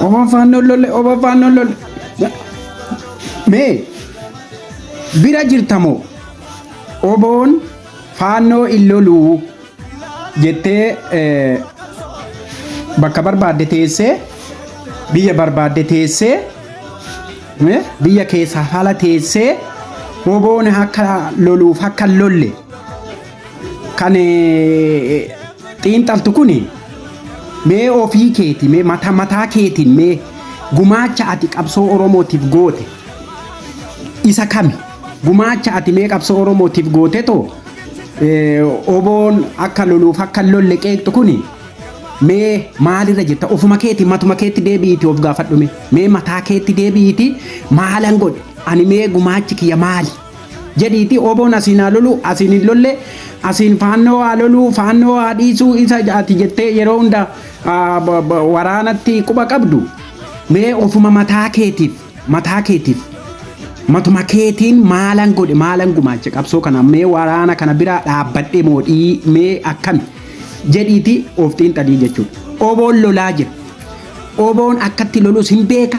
Obon faannoon lolle, obon faannoon lolle. Mee bira jirtamoo oboon faannoo hin loluu jettee eh, bakka barbaadde teessee biyya barbaadde teessee eh, biyya keessaa haala teessee oboon akka loluuf akka hin lolle kan xiinxaltu kun mee ofii keeti mee mata mataa keetiin mee gumaacha ati qabsoo oromootiif goote isa kami gumaacha ati mee qabsoo oromootiif goote too oboon akka loluuf akka lolle qeeqxu kun mee maalirra jirta ofuma keeti matuma keetti deebi'iiti of gaafadhume mee mataa keetti deebi'iiti maalan godhe ani mee gumaachi kiyya maali jedhiitii oboon asiin haa loluu asiin hin lollee asiin faannoo haa loluu faannoo haa dhiisuu isa ati jettee yeroo hunda ah, ba- ba- waraanatti quba qabdu mee ofuma mataa keetiif mataa keetiif matuma keetiin maalan godhe maalan gumaache qabsoo kana mee waraana kana biraa dhaabbadhe moodhii mee akkami jedhiitii of xiinxalii jechuudha oboon lolaa jira Oboon akkatti lolus hin beeka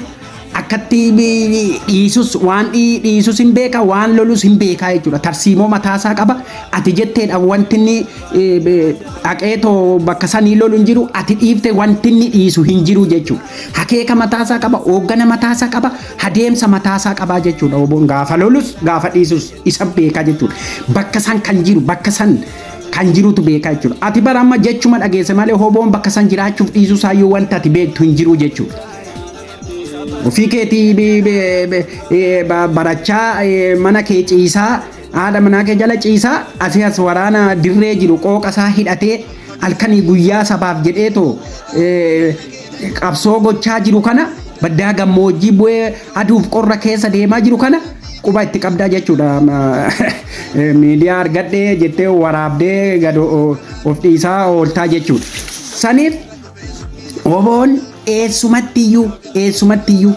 akkatti dhiisus waan dhiisus hin beeka waan lolus hin beekaa jechuudha tarsiimoo mataasaa qaba ati jetteedha wantinni dhaqeetoo bakka sanii lolu hin jiru ati dhiifte wantinni dhiisu hin jiru jechuudha hakeeka mataasaa qaba hooggana mataasaa qaba hadeemsa mataasaa qabaa jechuudha oboon gaafa lolus gaafa dhiisus isa beekaa jechuudha bakka san kan jiru bakka san kan jirutu beekaa jechuudha. Ati bara amma jechuma dhageesse malee hoboon bakka san jiraachuuf dhiisuu saayyuu wanta ati beektu hin jiru jechuudha. Ofii keetii bi- bi- bi- eh, ba- barachaa eh, mana kee ciisaa haadha manaa kee jala ciisaa asii as waraana dirree jiru qooqa isaa hidhatee halkanii guyyaa sabaaf jedhee too eh, qabsoo gochaa jiru kana baddaa gammoojjii bu'ee aduuf qorra keessa deemaa jiru kana quba itti qabdaa jechuudha. Miidiyaa argadhee jettee waraabdee gad of dhiisaa ooltaa jechuudha. Saniif oboon eessumattiyyuu eessumattiyyuu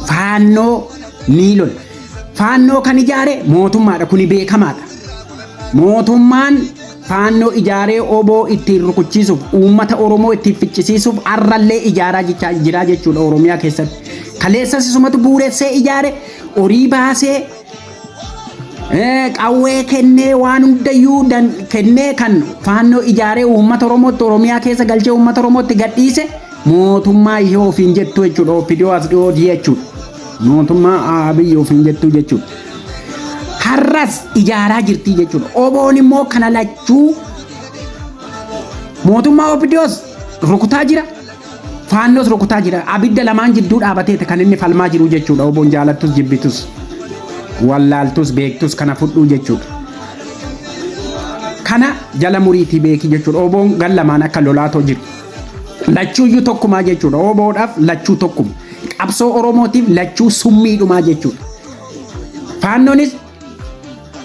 faannoo ni lola. Faannoo kan ijaare mootummaadha kuni beekamaadha. Mootummaan Faannoo ijaaree wbo ittiin rukuchiisuuf, uummata Oromoo ittiin ficcisiisuuf har'allee ijaaraa jechaa jiraa jechuudha Oromiyaa keessatti. Kaleessas isumatu buuressee ijaare, horii baasee, eh, qawwee kennee waan hundayyuu dan- kennee kan faannoo ijaaree uummata Oromootti Oromiyaa keessa galchee uummata Oromootti gadhiise mootummaa ishee ofiin jettu jechuudha OPDO as dhiyoo jechuudha. Mootummaa Abiy ofiin jettuu jechuudha. Har'as ijaaraa jirtii jechuudha. Oboon immoo kana lachuu mootummaa OPDOs rukutaa jira. Faannos rukutaa jira. Abidda lamaan jidduu dhaabateeti kan inni falmaa jiru jechuudha. Oboon jaalattus jibbitus. Wallaaltus beektus kana fudhuu jechuudha. Kana jala muriitii beeki jechuudha. Oboon gan lamaan akka lolaatoo jiru. Lachuuyyuu tokkumaa jechuudha. Oboodhaaf lachuu tokkuma. Qabsoo Oromootiif lachuu summiidhumaa jechuudha. Faannonis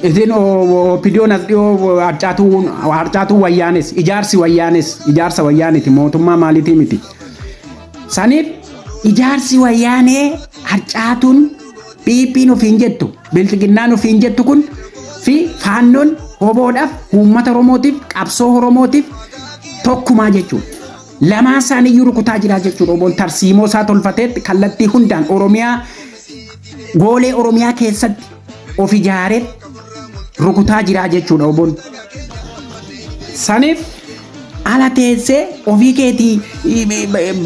isin opidiyoon as dhiyoo harcaatuu harcaatuu wayyaanes ijaarsi wayyaanes ijaarsa wayyaaniti mootummaa maaliitii miti. Saniif ijaarsi wayyaanee harcaatuun PPn ofiin jettu, Bilxiginnaan ofiin jettu kun fi faannoon oboodhaaf, uummata Oromootiif, qabsoo Oromootiif tokkumaa jechuudha. Lamaan isaanii iyyuu rukutaa jiraa jechuudha. Oboon tarsiimoo isaa tolfateetti kallattii hundaan Oromiyaa goolee Oromiyaa keessatti of ijaaree rukutaa jiraa jechuudha oboon. Saniif ala teessee ofii keetii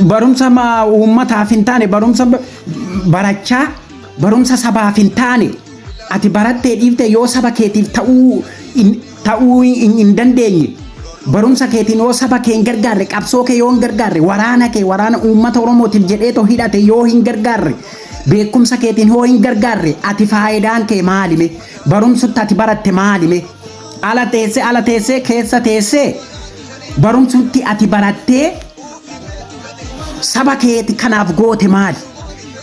barumsa uummataa hin taane barumsa barachaa barumsa sabaaf hin taane ati barattee dhiifte yoo saba keetiif ta'uu hin- ta'uu hin hin dandeenye barumsa keetiin yoo saba kee hin gargaarre qabsoo kee yoo hin gargaarre waraana kee waraana uummata oromootiif jedhee too hidhate yoo hin gargaarre beekumsa keetiin yoo hin gargaarre ati faayidaan kee maalime barumsutti ati baratte maalime ala teessee ala teessee keessa teessee barumsutti ati barattee Saba keeti kanaaf goote maali?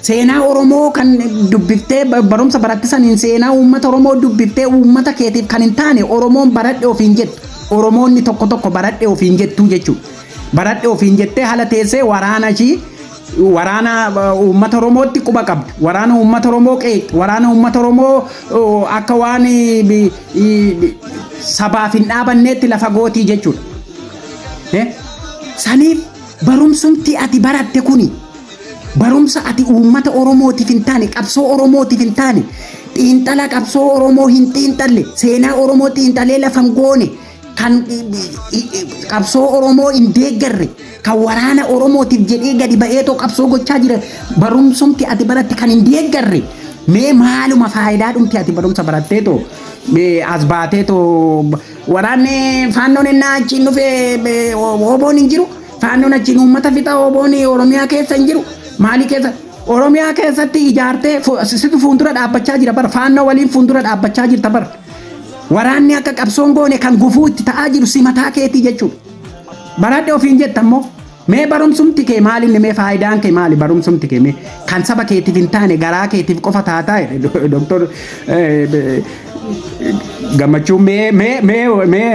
Seenaa Oromoo kan dubbiftee ba- barumsa baratte saniin seenaa uummata Oromoo dubbiftee uummata keetiif kan hin taane Oromoon baradhe ofiin jettu. Oromoonni tokko tokko baradhe ofiin jettuu jechuudha. Baradhe ofiin jettee haala teessee waraana ishii waraana uh, uummata Oromootti quba qabdu. Waraana uummata Oromoo qeeqxi. Waraana uummata Oromoo uh, akka waan eh, bi- eh, sabaaf hin dhaabanneetti lafa gootii jechuudha. Eh? Saniif barumsumti ati baratte kuni barumsa ati uummata Oromootiif hin taane qabsoo Oromootiif hin taane xiinxala qabsoo Oromoo hin xiinxalle seenaa Oromoo xiinxalee lafa hin goone kan qabsoo Oromoo hin deeggarre kan waraana Oromootiif jedhee gadi ba'ee too qabsoo gochaa jira barumsumti ati baratte kan hin deeggarre mee maaluma faayidaa dhumti ati barumsa barattee too mee as baatee too Waraanni faannoon ennaa achiin dhufe ooboon hin jiru. Faannoon achiin uummata fixa ooboon Oromiyaa keessa hin jiru. Maalii keessa? Oromiyaa keessatti ijaartee situ fuuldura dhaabbachaa jira bar. Faannoo waliin fuuldura dhaabbachaa jirta bar. Waraanni akka qabsoon goone kan gufuu itti ta'aa jiru si mataa keetii jechuudha. Baradhe ofiin jetta immoo. Mee barumsumti kee maal inni mee faayidaan kee maali barumsumti kee mee kan saba keetiif hin taane garaa keetiif qofa taataa jedhe doktor gammachuu mee mee mee mee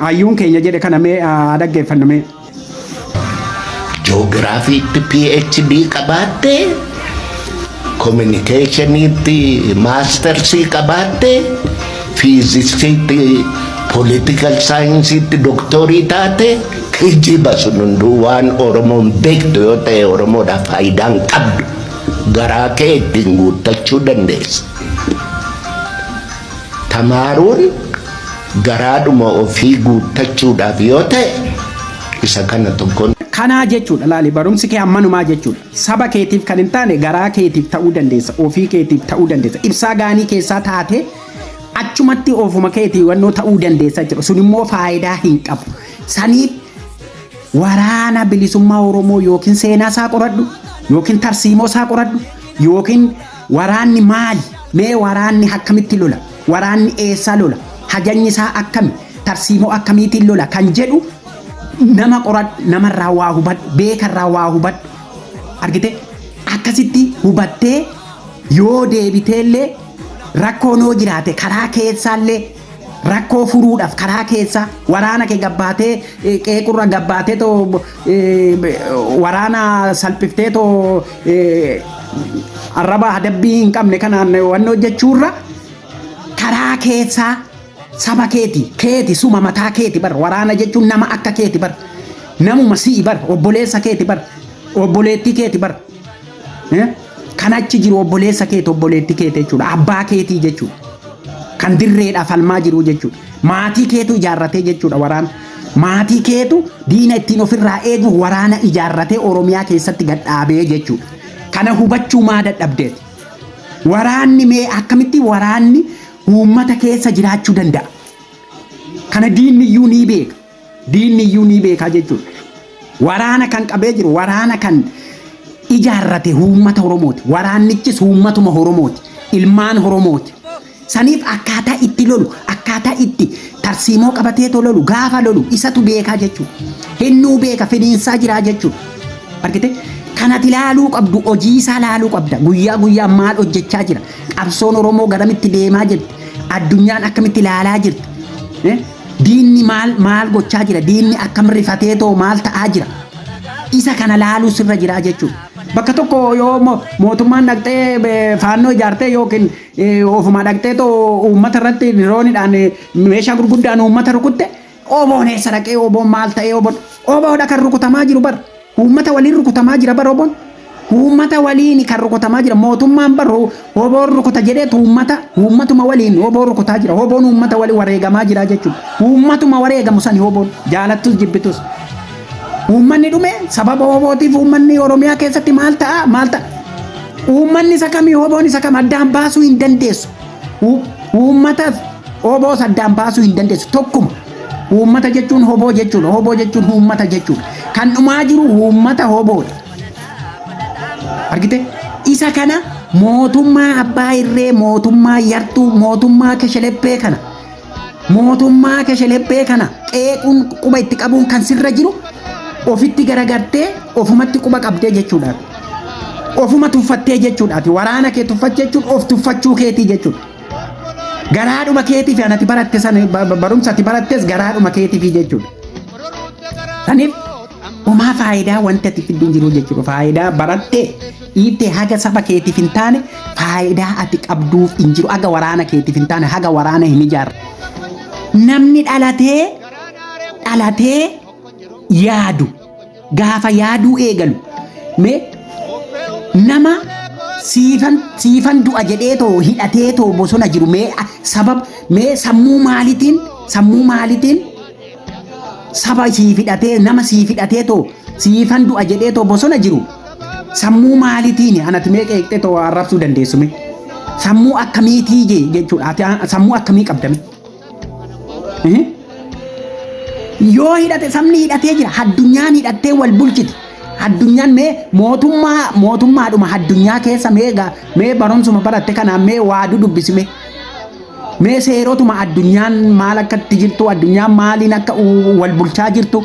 hayyuun keenya jedhe kana mee haa dhaggeeffannu mee. Joogiraafiitti PhD qabaattee Kominikeeshiniitti maastersii qabaatte, fiiziksiitti politikal saayinsiitti doktoorii taate kijiba sun hunduu waan Oromoon beektu yoo ta'e Oromoodhaaf faayidaa hin qabdu. Garaa kee ittiin guuttachuu dandeessa. Tamaaruun garaadhuma ofii guuttachuudhaaf yoo ta'e isa kana tokkoon. Kanaa jechuudha laali barumsi kee ammanumaa jechuudha. Saba keetiif kan hin taane garaa keetiif ta'uu dandeessa, ofii keetiif ta'uu dandeessa. Ibsaa gaanii keessaa taatee achumatti ofuma keetii wannoo ta'uu dandeessa jechuudha. Sun immoo faayidaa hin qabu. Saniif waraana bilisummaa Oromoo yookiin seenaa isaa qoradhu yookiin tarsiimoo isaa qoradhu yookiin waraanni maali? Mee waraanni akkamitti lola? Waraanni eessaa lola? Hajanyi isaa akkami? Tarsiimoo akkamiitiin lola? Kan jedhu nama qoradhu, namarraa waa hubadhu, beekarraa waa hubadhu. Argite? Akkasitti hubattee yoo deebiteellee rakkoon yoo jiraate karaa keessaallee rakkoo furuudhaaf karaa keessaa waraana kee gabbaatee eh, qeequrra gabbaatee too waraana salphiftee too arraba adabbii hin qabne kanaan wanni hojjechuurra karaa keessaa saba keeti keeti suma mataa keeti bar waraana jechuun nama akka keeti bar namuma si'i bar obboleessa keeti bar obboleettii keeti bar Eh? Kan achi jiru obboleessa keeti obboleetti keeti jechuudha. Abbaa keetii jechuudha. Kan dirreedha falmaa jiru jechuudha. Maatii keetu ijaarratee jechuudha waraana. Maatii keetu diina ittiin ofirraa eeguuf waraana ijaarratee Oromiyaa keessatti gad dhaabee jechuudha. Kana hubachuu maa dadhabdeeti? Waraanni mee akkamitti waraanni uummata keessa jiraachuu danda'a? Kana diinni iyyuu ni beeka. Diinni iyyuu ni beekaa jechuudha. Waraana kan qabee jiru waraana kan ijaarrate uummata Oromooti. Waraannichis uummatuma Oromooti. Ilmaan Oromooti. Saniif akkaataa itti lolu, akkaataa itti tarsiimoo qabateetoo lolu, gaafa lolu isatu beekaa jechuudha. Hinnuu beeka finiinsaa jiraa jechuudha. Argite? Kanati laaluu qabdu, hojii isaa laaluu qabda. Guyyaa guyyaa maal hojjechaa jira? Qabsoon Oromoo garamitti deemaa jirti? Addunyaan akkamitti laalaa jirti? Eh? Diinni maal maal gochaa jira? Diinni akkam rifatee too maal ta'aa jira? Isa kana laaluu sirra jira jechuudha. Bakka tokko yoo mo- mootummaan dhaqxee eh, faannoo ijaartee yookiin eh, ofumaa dhaqxee too uummata irratti diroonidhaan eh, meeshaa gurguddaan uummata rukutte oboon eessa dhaqee oboon maal ta'ee oboon oboodha kan rukutamaa jiru bar. Uummata waliin rukutamaa jira bar wbon. Uummata waliini kan rukutamaa jira. Mootummaan bar wbon rukuta jedheet uummata, uummatuma waliin wbo rukutaa jira. Wbon uummata waliin wareegamaa jira jechuudha. Uummatuma wareegamu sani wbon. Jaalattus jibbitus. Uummanni dhume sababa wbootiif uummanni Oromiyaa keessatti maal ta'a maal ta'a. Uummanni isa kami wbon isa kam addaan baasuu hin dandeessu. Uu- Uummata wboos addaan baasuu hin dandeessu. Tokkuma. Uummata jechuun hoboo jechuudha. Hoboo jechuun uummata jechuudha. Kan dhumaa jiru uummata hoboodha. Argite? Isa kana mootummaa abbaa irree, mootummaa yartuu, mootummaa kesheleppee kana mootummaa kesheleppee kana qeequun quba itti qabuun kan sirra jiru ofitti garagartee ofumatti quba qabdee jechuudha. Ofuma tuffattee jechuudha. Waraana kee tuffachuu jechuun of tuffachuu keetii jechuudha. Garaadhuma keetiif anati baratte san barumsa ati barattes garaadhuma keetiif jechuudha. Saniif homaa faayidaa wanti ati fiddu hin jiru jechuudha. Faayidaa barattee dhiittee haga saba keetiif hin taane faayidaa ati qabduuf hin jiru. Haga waraana keetiif hin taane haga waraana hin ijaarre. Namni dhalatee dhalatee yaadu Gaafa yaaduu eegalu mee nama siifan siifan du'a jedhee too hidhatee too bosona jiru mee a- sabab mee sammuu maalitiin sammuu maalitiin saba siif hidhatee nama siif hidhatee too siifan du'a jedhee too bosona jiru sammuu maalitiin anati mee qeeqxee too arrabsuu dandeessume sammuu akkamiitii je- jechuudha ati a- sammuu akkamii qabdame yoo hidhate sabni hidhatee jira addunyaan hidhattee wal bulchiti addunyaan mee mootummaa mootummaadhuma addunyaa keessa mee ga- mee barumsuma baratte kanaan mee waadu dubbisime mee seerotuma addunyaan maal akka itti jirtu addunyaan maaliin akka u- wal bulchaa jirtu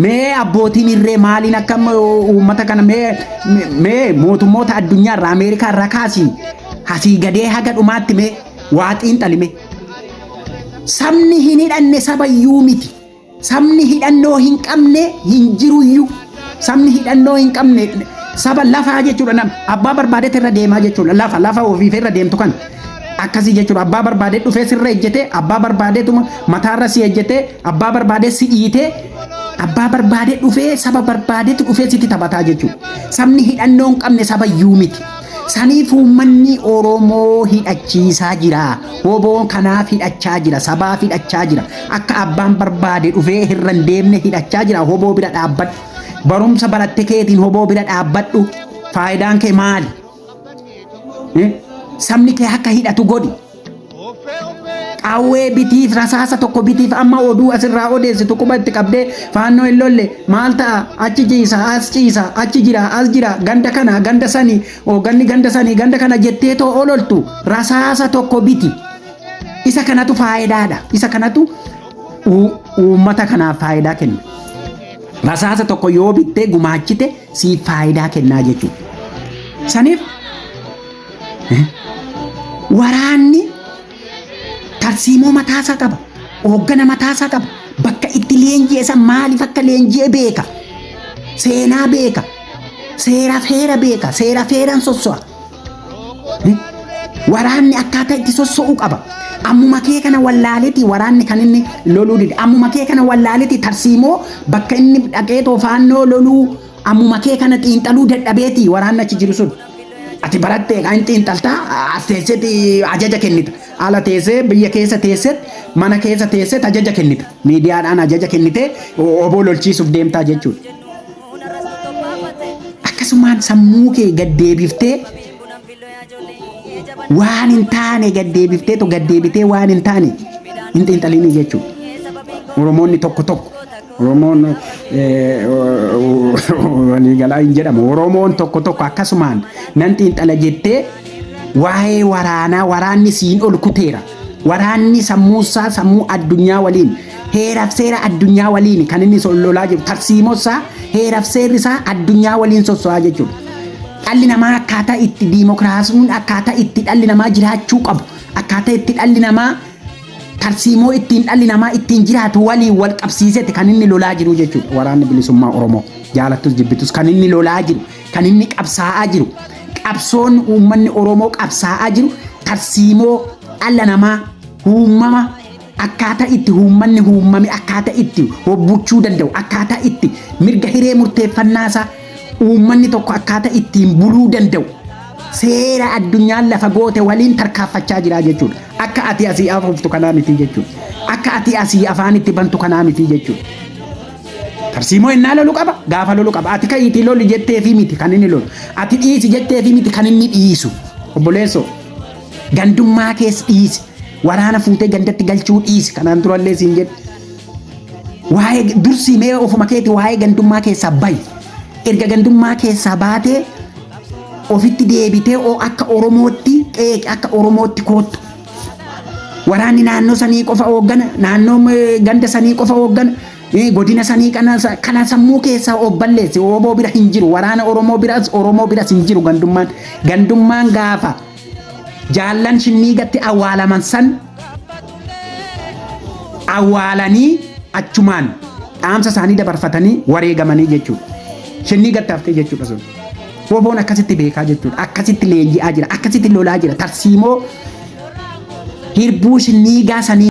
mee abbootiin irree maaliin akka m- uummata kana mee mee mootummoota addunyaa irraa ameerikaa irraa kaasii asii gadee haga dhumaatti mee waa xiinxalime sabni hin hidhanne sabayyuu miti sabni hidhannoo hin qabne hin jiruyyuu sabni hidhannoo hin qabne saba lafaa jechuudha nam abbaa barbaadetti irra deemaa jechuudha lafa lafa ofiif irra deemtu kan akkasii jechuudha abbaa barbaadee dhufee sirra ejjetee abbaa barbaadeetuma mataarra si ejjetee abbaa barbaadee si dhiitee abbaa barbaadee dhufee saba barbaadeetti dhufee sitti taphataa jechuudha sabni hidhannoo hin qabne sabayyuu miti. Saniif uummanni Oromoo hidhachiisaa jira. Woboon kanaaf hidhachaa jira. Sabaaf hidhachaa jira. Akka abbaan barbaade dhufee hirra hin deemne hidhachaa jira. Woboo bira dhaabbadhu. Barumsa baratte keetiin woboo bira dhaabbadhu. Faayidaan kee maali? Eh? Sabni kee akka hidhatu godhi. Qawwee bitiif rasaasa tokko bitiif amma oduu asirraa odeessitu quba itti qabdee faannoo hin lolle maal ta'a achi ciisa as ciisa achi jira as jira ganda kana ganda sani ganni ganda sani ganda kana jettee too ololtu rasaasa tokko biti isa kanatu faayidaadha isa kanatu uummata kanaaf faayidaa kenna. Rasaasa tokko yoo bittee gumaachite siif faayidaa kennaa jechuudha. Saniif Waraanni tarsiimoo mataasaa qaba. Hooggana mataasaa qaba. Bakka itti leenji'e san maaliif akka leenji'e beeka. Seenaa beeka. Seera feera beeka. Seera feeraan sosso'a. Waraanni akkaataa itti sosso'u qaba. Ammuma kee kana wallaaleeti waraanni kan inni loluu dide. Ammuma kee kana wallaaleeti tarsiimoo bakka inni dhaqeetoo faannoo loluu ammuma kee kana xiinxaluu dadhabeeti waraanni achi jiru sun. Ati barattee kan xiinxaltaa as teesseeti ajaja kennita. Ala teessee biyya keessa teesseet mana keessa teesseet ajaja kennita. Miidiyaadhaan ajaja kennitee oboo lolchiisuuf deemtaa jechuudha. Akkasumaan sammuu kee gad deebiftee waan hin taane gad deebiftee to gad deebitee waan hin taane hin xiinxalinii jechuudha. Oromoonni tokko tokko Oromoon waliigalaa hin jedhamu. Oromoon tokko tokko akkasumaan nan xiinxala jettee waa'ee waraanaa waraanni siin ol kuteera. Waraanni sammuusaa sammuu addunyaa waliin heeraaf seera addunyaa waliin kan inni lolaa jiru tarsiimosaa heeraaf seerri isaa addunyaa waliin sosso'aa jechuudha. Dhalli namaa akkaataa itti diimokiraasiin akkaataa itti dhalli namaa jiraachuu qabu akkaataa itti dhalli namaa tarsiimoo ittiin dhalli namaa ittiin jiraatu waliin wal qabsiiseeti kan inni lolaa jiru jechuudha. Waraanni bilisummaa Oromoo jaalattus jibbitus kan inni lolaa jiru kan inni qabsaa'aa jiru qabsoon uummanni Oromoo qabsaa'aa jiru tarsiimoo dhala namaa uumama akkaataa itti uummanni uumame akkaataa itti hobbuchuu danda'u akkaataa itti mirga hiree murteeffannaasaa uummanni tokko akkaataa ittiin buluu danda'u seera addunyaan lafa goote waliin tarkaaffachaa jira jechuudha. Akka ati asii afuuftu kanaa miti jechuudha. Akka ati asii afaan itti bantu kanaa miti jechuudha. Tarsiimoo innaa lolu qaba gaafa lolu qaba ati ka'iitii loli jetteefi miti kan inni lolu ati dhiisi jetteefi miti kan inni dhiisu obboleessoo gandummaa keessa dhiisi waraana fuutee gandatti galchuu dhiisi kanaan durallee siin jedhe waa'ee dursii mee ofuma keeti waa'ee gandummaa keessaa bayi erga gandummaa keessaa baatee ofitti deebitee oo akka Oromootti qeeqi akka Oromootti koottu. Waraanni naannoo sanii qofa hooggana, naannoo eh, ganda sanii qofa hooggana, eh, godina sanii kana sa- kana sammuu keessaa of balleesse. Oboo bira hin jiru, waraana Oromoo biras Oromoo biras hin jiru gandummaan. Gandummaan gaafa jaallan shinniigatti awwaalaman san awwaalanii achumaan dhaamsa isaanii dabarfatanii wareegamanii jechuudha. Shinniigatti haftee jechuudha sun. Woboon akkasitti beekaa jechuudha. Akkasitti leenji'aa jira. Akkasitti lolaa jira. Tarsiimoo hirbuu shinniigaa sanii